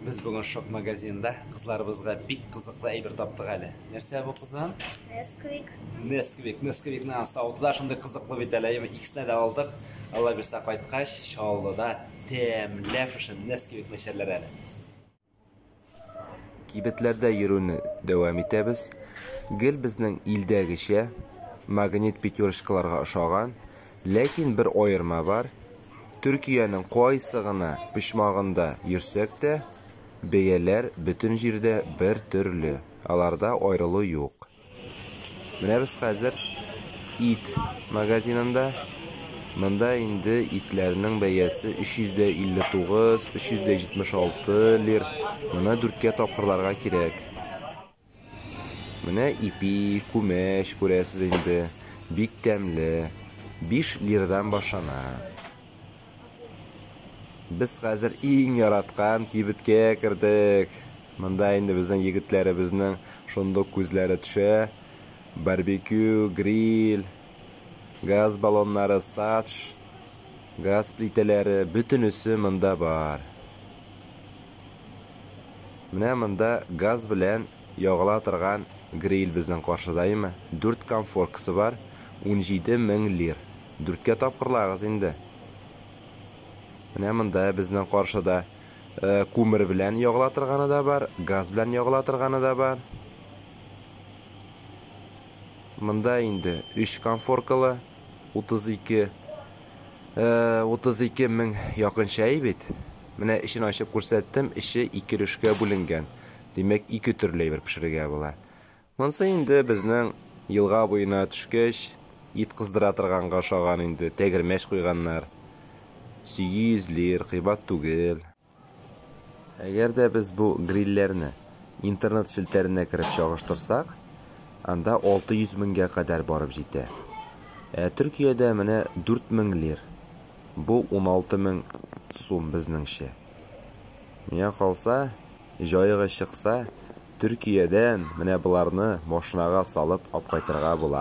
Без бүген шок магазинында кызларыбызга бик кызыклы әйбер таптык әле. Нәрсә бу кызым? Несквик. Несквик, несквикны саудыда шундый кызыклы бит әле. Икесенә дә алдык. Алла бирсә кайткач, Чаллыда тәмләп шушы несквик нәшәрләр әле. Кибетләрдә йөрүне дәвам итәбез. Гел безнең илдәгечә магнит пятерочкаларга ошаган Ләкин бер аерма бар, Төркиянең кайсы гына почмагында йөрсәк тә, бәяләр бөтен җирдә бер төрле, аларда аерылу юк. Менә без хәзер ит магазинында, монда инде итләрнең бәясе 359, 376 лир, моны дүрткә тапкырларга кирәк. Менә ипи, күмәч, күрәсез инде. Бик тәмле. Биш лирдан башлана. Без хәзер иң яраткан кибеткә кердек. Монда инде безнең егетләребезнең шундук күзләре төшә. Барбекю, гриль, газ баллоннары, садж, газ плитәләре, бөтенесе монда бар. Менә монда газ белән ягыла торган гриль безнең каршыда име? Дүрт комфоркасы бар, унҗиде мең лир. Дүрткә тапкырлагыз инде. Менә монда безнең каршыда күмер белән ягыла торганы да бар, газ белән ягыла торганы да бар. Монда инде өч комфоркалы, утыз ике, утыз ике мең якынча бит. Менә эчен ачып күрсәттем, эче ике өлешкә бүленгән, димәк, ике төрле әйбер пешерергә була. Монсы инде безнең елга буена төшкәч, ит кыздыра торганга ошаган инде, тәгәрмәч куйганнар. Сөйи излир, кыйбат түгел. Әгәр дә без бу грильләрне интернет челтәренә кереп чагыштырсак, анда 600 меңгә кадәр барып җитә. Ә Төркиядә менә 4 мең лир. Бу уналты мең сум безнеңчә. Миңа калса, җаегы чыкса, Төркиядән менә боларны машинага салып апкайтырга була.